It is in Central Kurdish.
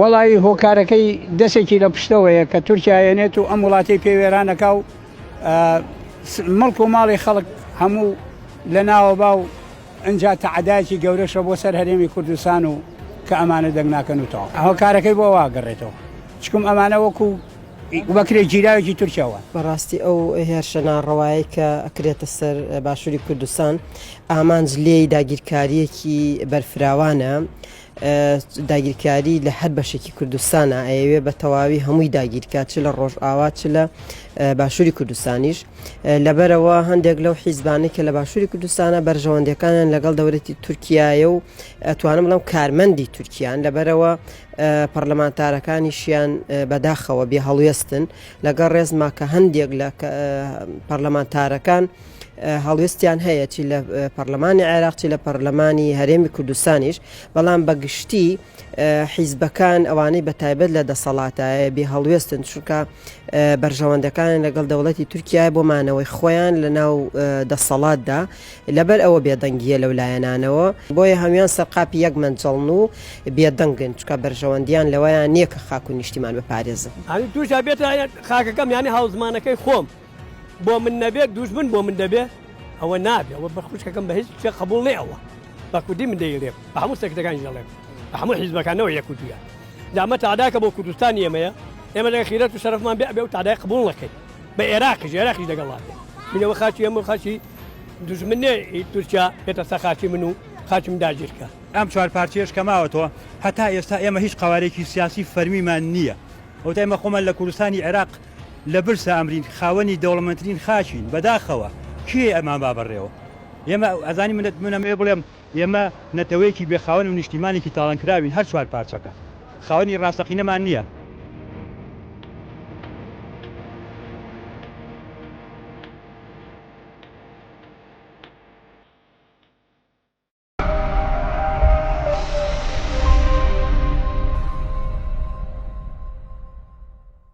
وەڵایی هۆکارەکەی دەسێکی لە پشتەوەیە کە تورکیا یەنێت و ئەم وڵاتی پێ وێرانەکە و مڵک و ماڵی خەڵک هەموو لە ناوە با و ئەجا تەعدایکی گەورەشە بۆ سەر هەرێمی کوردستان و کە ئەمانە دەنگ ناکەن و تەواو هۆکارەکەی بۆ واگەڕێتەوە چکم ئەمانە وەکو وەکرێ گیراوێکی تورکیاوە بەڕاستی ئەو هێرشە ناڕەوایی کە ئەکرێتە سەر باشووری کوردستان ئامانج لێی داگیرکاریەکی بەرفراوانە داگیرکاری لە هەر بەشێکی کوردستانە ئەیەوێ بە تەواوی هەمووی داگیرکە چ لە ڕۆژئاوا چ لە باشووری کوردستانیش لەبەرەوە هەندێک لەو حیزبانەی کە لە باشووری کوردستانە بەرژەوەندەکانیان لەگەڵ دەورەتی تورکایە و توانم بڵم کارمەندی تورکیان لەبەرەوە پەرلەمانتارەکانیشیان بەداخەوە بێ هەڵوێستن لەگەڵ ڕێزما کە هەندێک لە پەرلەمانتارەکان هەڵوێستیان هەیە چی لە پەرلەمانی عێراق چی لە پەرلەمانی هەرێمی کوردستانیش بەڵام بەگشتی حیزبەکان ئەوانەی بە تایبەت لە دەسەڵاتایە بێ هەڵوێستن چونکە بەرژەوەندەکان لەگەڵ دەوڵەتی تورکیا بۆ مانەوەی خۆیان لە ناو دەسەڵاتدا لەبەر ئەوە بێدەنگیە لەو لایەنانەوە بۆیە هەموان سەرقاپی یەک منجڵن و بێدەنگن چکە بەرژەوەندیان لەوەیان نییە کە خاکو نیشتیمان بپارێزن توش بێتە خاکەکەم یانی هاوزمانەکەی خۆم. بۆ من نەبێت دوژمن بۆ من دەبێت ئەوە نابێت ئەوە بە خوشکەکەم بە هیچ شتێ قبول نێ ئەوە بە کوردی من دەیڵێم بە هەموو سەکتەکانی دەڵێم بە هەموو حیزبەکانەوە یەکوتویە دامە تاداکە بۆ کوردستان ئێمەیە ئێمە لە خیرەت و شەرفمان بێ ئەبێ و تادای قبول نەکەین بە عێراقی ژێراقی دەگەڵا بێ منەوە خاچی ئەمە خاچی دژمنێ تورکیا بێتە سەخاچی من و خاچم داگیرکە ئەم چوار پارچێش کەماوەتەوە هەتا ئێستا ئێمە هیچ قوارێکی سیاسی فەرمیمان نییە ئەو تایمە خۆمان لە کوردستانی عێراق لە برسا ئەمرین خاوەنی دەوڵەمەندترین خاکین بەداخەوە کێ ئەمان با بەڕێوە ئێمە ئەزانی من من ئەمەوێ بڵێم ئێمە نەتەوەیەکی بێ خاوەن و نیشتیمانێکی تاڵانکراوین هەر چوار پارچەکە خاوەنی ڕاستەقینەمان نییە.